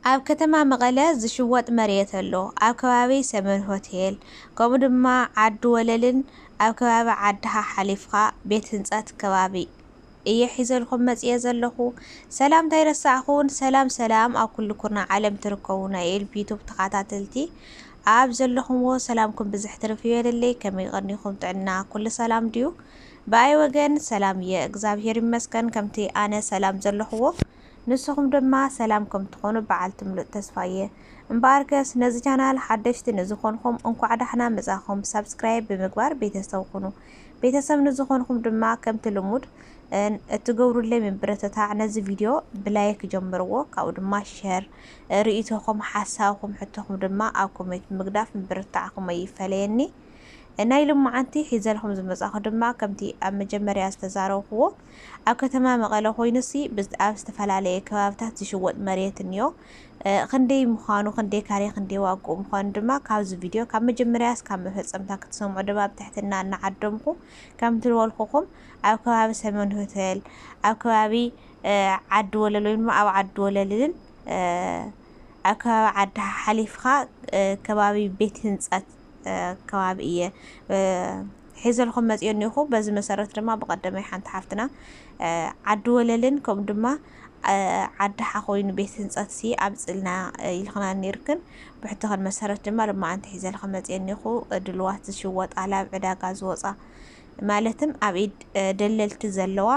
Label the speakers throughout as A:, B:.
A: ኣብ ከተማ መቐለ ዝሽወጥ መሬት ኣሎ ኣብ ከባቢ ሰመን ሆቴል ከምኡ ድማ ዓዲ ወለልን ኣብ ከባቢ ዓድኻ ሓሊፍኻ ቤት ህንፀት ከባቢ። እየ ሒዘልኩም መጺኤ ዘለኹ ሰላምታ ኣይረሳዕኹን ሰላም ሰላም ኣብ ኩሉ ኩርናዕ ዓለም ትርከቡ ናይ ኤልፒ ዩቱብ ተኻታተልቲ ኣብ ዘለኹምዎ ሰላምኩም ብዝሕ ትርፍ ይበለለይ ከመይ ቐኒኹም ጥዕና ኩሉ ሰላም ድዩ ብኣይ ወገን ሰላም እየ እግዛብሄር ይመስገን ከምቲ ኣነ ሰላም ዘለኹዎ ንስኹም ድማ ሰላም ከምትኾኑ በዓልቲ ምሉእ ተስፋ እየ እምበኣርከስ ነዚ ቻናል ሓደሽቲ ንዝኾንኹም እንኳዕ ዳሕና መጻኹም ሳብስክራይብ ብምግባር ቤተሰብ ኹኑ ቤተሰብ ንዝኾንኹም ድማ ከምቲ ልሙድ እትገብሩለይ ምብርትታዕ ነዚ ቪድዮ ብላይክ ጀምርዎ ካብኡ ድማ ሸር ሪኢቶኹም ሓሳብኹም ሕቶኹም ድማ ኣብ ኮሜት ብምግዳፍ ምብርትታዕኹም ኣይፈለየኒ ናይ ልማዓንቲ ሒዘልኹም ዝመጻኹ ድማ ከምቲ ኣብ መጀመርያ ዝተዛረብኩዎ ኣብ ከተማ መቐለ ኮይኑሲ ኣብ ዝተፈላለየ ከባብታት ዝሽወጥ መሬት እንዮ ኽንደይ ምዃኑ ኽንደይ ካሬ ኽንደይ ዋግኡ ምዃኑ ድማ ካብዚ ቪድዮ ካብ መጀመርያ እስካብ መፈጸምታ ክትሰምዑ ድማ ብትሕትና እናዓደምኩ ከምቲ ልበልኩኹም ኣብ ከባቢ ሰሜን ሆቴል ኣብ ከባቢ ዓዲ ወለል ወይ ድማ ኣብ ዓዲ ወለልን ኣብ ከባቢ ዓዲ ሓሓሊፍኻ ከባቢ ቤት ህንጸት ከባቢ እየ ሒዘልኩም መጽየ እኔኹ በዚ መሰረት ድማ ብቀደመይ ሓንቲ ሓፍትና ዓዲ ወለልን ከምኡ ድማ ዓዲ ሓኾይኑ ቤት ህንጸት ሲ ኣብጽልና ኢልክና ኔርክን ብሕቶኽን መሰረት ድማ ልማዓንቲ ሒዘልከ መጽየ እኔኹ ድልዋት ዝሽወጥ ኣላብ ዕዳጋ ዝወጻ ማለትም ኣብ ኢድ ደለልቲ ዘለዋ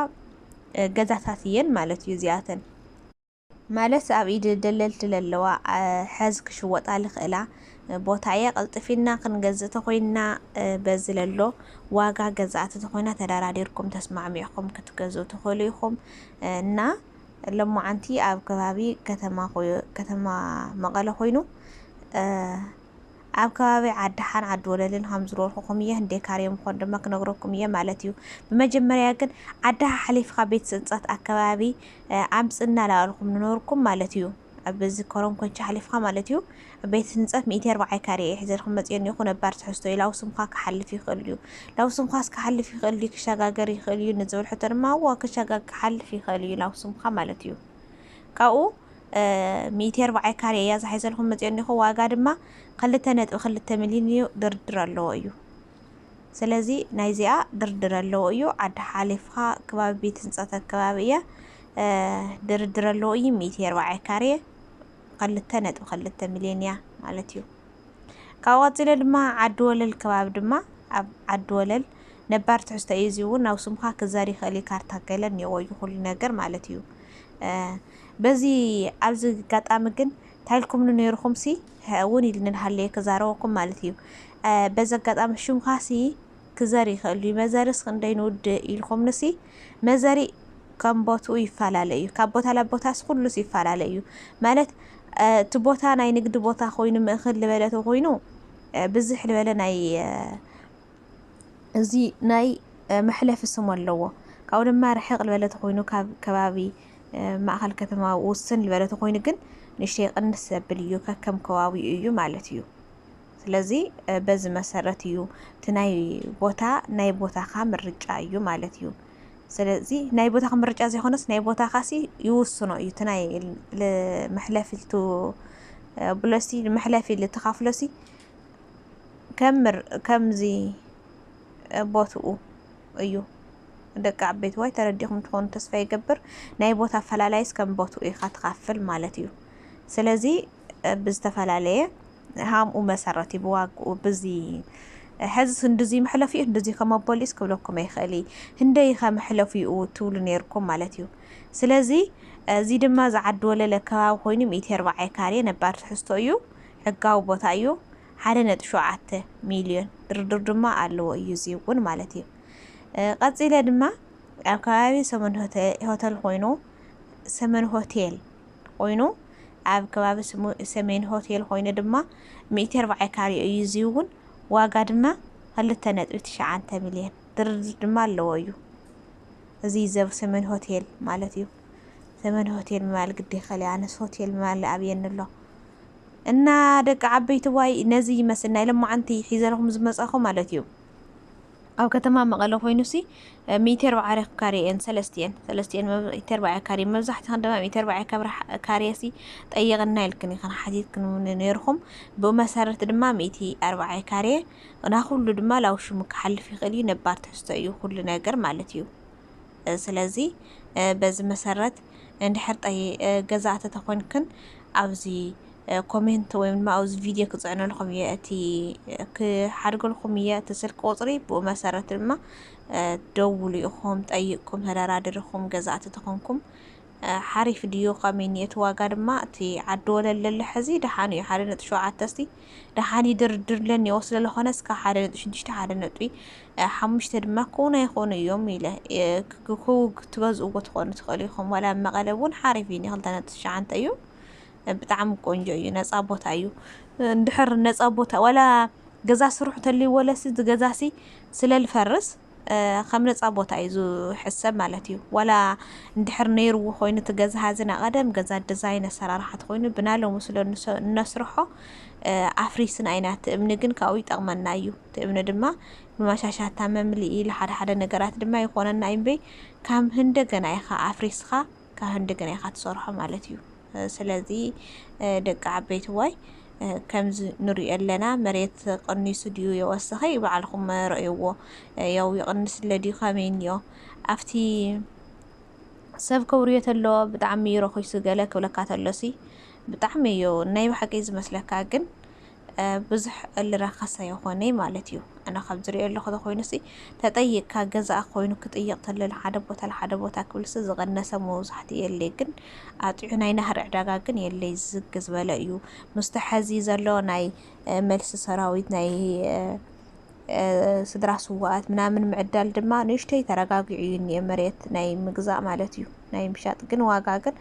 A: ገዛታት እየን ማለት እዩ እዚኣተን ማለት ኣብ ኢድ ደለልቲ ለለዋ ሐዝ ክሽወጣ ልኽእላ ቦታ እያ ቀልጥፊና ክንገዝእ ተኾይንና በዚ ለሎ ዋጋ ገዛእቲ ተኾይና ተዳራዲርኩም ተስማዕሚዕኹም ክትገዝኡ ትኽእሉ ኢኹም እና ለሞዓንቲ ኣብ ከባቢ ከተማ መቐለ ኾይኑ ኣብ ከባቢ ዓዲሓን ዓዲወለልን ኸም ዝነበርኹኹም እየ ህንደይ ካሬ ምኾኑ ድማ ክነግረኩም እየ ማለት እዩ ብመጀመርያ ግን ዓዲ ሓሓሊፍኻ ቤት ፅንፀት ኣከባቢ ኣምፅ እናላበልኹም ንነብርኩም ማለት እዩ ኣብ እዚ ኮረም ኮንቻ ሓሊፍኻ ማለት እዩ ቤት ህንፀት ሚእቲ ኣርባዓይ ካሬ እየ ሒዘልኩም መፅዮ እኒኹ ነባር ትሕዝቶ እዩ ላው ስምዃ ክሓልፍ ይኽእል እዩ ላው ስምዃስ ክሓልፍ ይኽእል እዩ ክሸጋገር ይኽእል እዩ ንዝብል ሕቶ ድማ እዎ ክሸጋግ ክሓልፍ ይኽእል እዩ ላው ስምዃ ማለት እዩ ካብኡ ሚእቲ ኣርባዕየ ካሬ እያ ዝሓይዘልኩም መፂኦ እኒኹ ዋጋ ድማ ኽልተ ነጥቢ ኽልተ ሚሊን እዩ ድርድር ኣለዎ እዩ ስለዚ ናይዚኣ ድርድር ኣለዎ እዩ ዓዲ ሓሊፍኻ ከባቢ ቤት ህንፀት ኣከባቢ እያ ድርድር ኣለዎ እዩ ሚእቲ ኣርባዕየ ካሬ ኽልተ ነጥቢ ኽልተ ሚሊዮን እያ ማለት እዩ ካብ ቀፂለ ድማ ዓዲ ወለል ከባቢ ድማ ኣብ ዓዲ ወለል ነባር ትሕዝቶ እዩ እዚ እውን ናብ ስምካ ክዛር ይኽእል እዩ ካርታ ገለ እኒኦዎ እዩ ኩሉ ነገር ማለት እዩ በዚ ኣብዚ ኣጋጣሚ ግን ታይልኩምኒ ነይርኩም ሲ ውን ኢልኒ ሃለየ ክዛረበኩም ማለት እዩ በዚ ኣጋጣሚ ሽምካ ሲ ክዘር ይክእል እዩ መዘርስ ክንደይ ንውድ ኢልኩምኒ ሲ መዘሪ ከም ቦትኡ ይፈላለ እዩ ካብ ቦታ ላ ቦታስ ኩሉስ ይፈላለ እዩ ማለት እቲ ቦታ ናይ ንግዲ ቦታ ኮይኑ ምእክል ዝበለ ተኮይኑ ብዝሕ ዝበለ ናይ እዚ ናይ መሕለፊ ስም ኣለዎ። ካብኡ ድማ ርሕቕ ልበለ ተኾይኑ ካብ ከባቢ ማእኸል ከተማ ውስን ልበለ ተኾይኑ ግን ንእሽተይ ቅንስ ዘብል እዩ ከከም ከባቢኡ እዩ ማለት እዩ። ስለዚ በዚ መሰረት እዩ እቲ ናይ ቦታ ናይ ቦታኻ ምርጫ እዩ ማለት እዩ። ስለዚ ናይ ቦታኻ ምርጫ ዘይኮነስ ናይ ቦታኻ ሲ ይውስኖ እዩ እቲ ናይ መሕለፊ ብሎሲ መሕለፊ ልትኻፍሎሲ ከምር ከምዚ ቦትኡ እዩ ደቂ ዓበይቲ ዋይ ተረዲኹም ትኾኑ ተስፋ ይገብር ናይ ቦታ ኣፈላላይስ ከም ቦትኡ ኢኻ ትኻፍል ማለት እዩ ስለዚ ብዝተፈላለየ ሃምኡ መሰረት እዩ ብዋግኡ ብዚ ሕዝስ እንድዚ መሕለፍ እዩ እንድዚ ከመቦሊስ ክብለኩም ይኽእል እዩ ህንደይ ኸ መሕለፍ እዩ ትብሉ ነይርኩም ማለት እዩ ስለዚ እዚ ድማ ዝዓዲ ወለለ ከባቢ ኮይኑ ሚእቲ ኣርባዓይ ካሬ ነባር ትሕዝቶ እዩ ሕጋዊ ቦታ እዩ ሓደ ነጥቢ ሸውዓተ ሚልዮን ድርድር ድማ ኣለዎ እዩ እዚ እውን ማለት እዩ ቀጺለ ድማ ኣብ ከባቢ ሰመን ሆተል ኮይኑ ሰመን ሆቴል ኮይኑ ኣብ ከባቢ ሰሜን ሆቴል ኮይኑ ድማ ሚእቲ ኣርባዕተ ካሬ እዩ እዚ እውን ዋጋ ድማ ክልተ ነጥቢ ትሽዓተ ሚልዮን ድርድር ድማ ኣለዎ እዩ እዚ ዘብ ሰመን ሆቴል ማለት እዩ ሰመን ሆቴል ምባል ግዲ ይኸል ኣነስ ሆቴል ምባል ኣብየኒ ኣሎ እና ደቂ ዓበይቲ ዋይ ነዚ ይመስል ናይ ለማዓንቲ ሒዘልኹም ዝመጻኹ ማለት እዩ ኣብ ከተማ መቐለ ኮይኑሲ ሚእቲ ኣርብዓ ኣርባዕተ ካሬ እየን ሰለስቲኤን ሰለስቲኤን ሚእቲ ኣርባዕተ ካሬ መብዛሕትኽን ድማ ሚእቲ ኣርባዕተ ካሬሲ ጠይቕና ኢልክን ኢኽን ሓቲትክን ነይርኹም ብኡ መሰረት ድማ ሚእቲ ኣርባዕተ ካሬ ናኹሉ ድማ ላውሽሙ ክሓልፍ ይኽእል እዩ ነባር ትሕዝቶ እዩ ኩሉ ነገር ማለት እዩ ስለዚ በዚ መሰረት እንድሕር ጠይ ገዛእቲ ተኮንክን ኣብዚ ኮሜንት ወይ ድማ ኣብዚ ቪድዮ ክጽዕነልኩም እየ እቲ ክሓድገልኩም እየ እቲ ስልክ ቁጽሪ ብኡ መሰረት ድማ ደውሉ ኢኹም ጠይቅኩም ተደራድርኹም ገዛእቲ ተኮንኩም ሓሪፍ ድዩ ከመይ ኒየቲ ዋጋ ድማ እቲ ዓዲ ወለል ለሎ ሕዚ ደሓን እዩ ሓደ ነጥቢ ሸውዓተ እስቲ ደሓን ይድርድር ኢለን እኔዎ ስለለኾነ እስከ ሓደ ነጥቢ ሽዱሽተ ሓደ ነጥቢ ሓሙሽተ ድማ ክውን ኣይኾኑ እዮም ኢለ ክትገዝእዎ ትኾኑ ትኽእሉ ኢኹም ዋላ ኣብ መቐለ እውን ሓሪፍ እዩ ክልተ ነጥቢ ትሽዓንተ እዩ ብጣዕሚ ቆንጆ እዩ ነፃ ቦታ እዩ እንድሕር ነፃ ቦታ ዋላ ገዛ ስርሑ ተልይዎ ለሲ ገዛሲ ስለልፈርስ ከም ነጻ ቦታ እዩ ዝሕሰብ ማለት እዩ ዋላ እንድሕር ነይርዎ ኮይኑ እቲ ገዛ ሀዚ ናይ ቀደም ገዛ ድዛይን ኣሰራርሓት ኮይኑ ብናይ ሎሚ ስለ እነስርሖ ኣፍሪስና ኢና እቲ እምኒ ግን ካብኡ ይጠቅመና እዩ እቲ እምኒ ድማ ንማሻሻታ መምልኢ ለሓደ ሓደ ነገራት ድማ ይኾነና እዩ እምበይ ካብ እንደገና ኢኻ ኣፍሪስኻ ካብ እንደገና ኢኻ ትሰርሖ ማለት እዩ ስለዚ ደቂ ዓበይትዋይ ከምዚ ንሪኦ ኣለና መሬት ቅኒሱ ድዩ የወሰኸ ባዕልኹም ረእይዎ ያው ይቕንስለ ድዩ ከመይ እኒኦ ኣብቲ ሰብ ክብርዮ ተሎ ብጣዕሚ እዩ ረኺሱ ገለ ክብለካ ተሎሲ ብጣዕሚ እዩ ናይ ብሓቂ ዝመስለካ ግን ብዙሕ እልራከሰ የኮነይ ማለት እዩ ኣነ ካብ ዝሪኦ ኣለኩ ተኮይኑሲ ተጠይቅካ ገዛእ ኮይኑ ክጥይቅ ተሎ ልሓደ ቦታ ልሓደ ቦታ ክብልሲ ዝቀነሰ መውዛሕትኡ የለይ ግን ኣጥዑ ናይ ናህሪ ዕዳጋ ግን የለይ ዝግ ዝበለ እዩ ምስቲ ሐዚ ዘሎ ናይ መልሲ ሰራዊት ናይ ስድራ ስዋኣት ምናምን ምዕዳል ድማ ንእሽተይ ተረጋጊዑ እዩ እኒኤ መሬት ናይ ምግዛእ ማለት እዩ ናይ ምሻጥ ግን ዋጋ ግን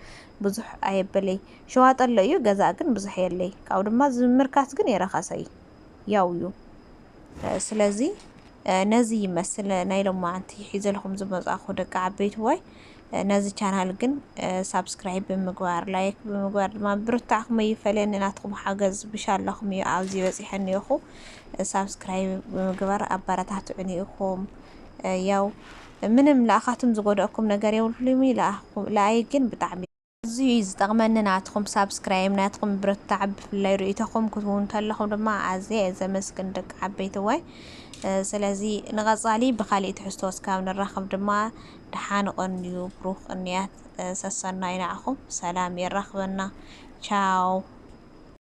A: ብዙሕ ኣየበለይ ሸዋጠ ኣሎ እዩ ገዛእ ግን ብዙሕ የለይ ካብኡ ድማ ዝምርካስ ግን የረከሰይ ያው እዩ ስለዚ ነዚ ይመስል ናይ ሎማዓንቲ ሒዘልኩም ዝመጻኹ ደቂ ዓበይትዋይ ነዚ ቻናል ግን ሳብስክራይብ ብምግባር ላይክ ብምግባር ድማ ብርታዕኩም ይፈለኒ ናትኩም ሓገዝ ብሻላኹም እዩ ኣብዚ በጺሐኒ ይኹ ሳብስክራይብ ብምግባር ኣባራታትዑኒ ይኹም ያው ምንም ለኣኻትም ዝጎደእኩም ነገር የብልኩም ለኣይ ግን ብጣዕሚ ኣዝዩ እዩ ዝጠቅመኒ ናትኩም ሳብስክራይም ናትኩም ምብርትታዕ ብፍላይ ርእይቶኩም ክትቡ እንተለኩም ድማ ኣዝየ እየ ዘመስግን ደቂ ዓበይትዋይ ስለዚ ንቀጻሊ ብካሊእ ትሕዝቶ እስካብ ንራከብ ድማ ደሓን ቀንዩ ብሩክ ቅንያት ሰሰናዩ ንዓኩም ሰላም የራክበና ቻው።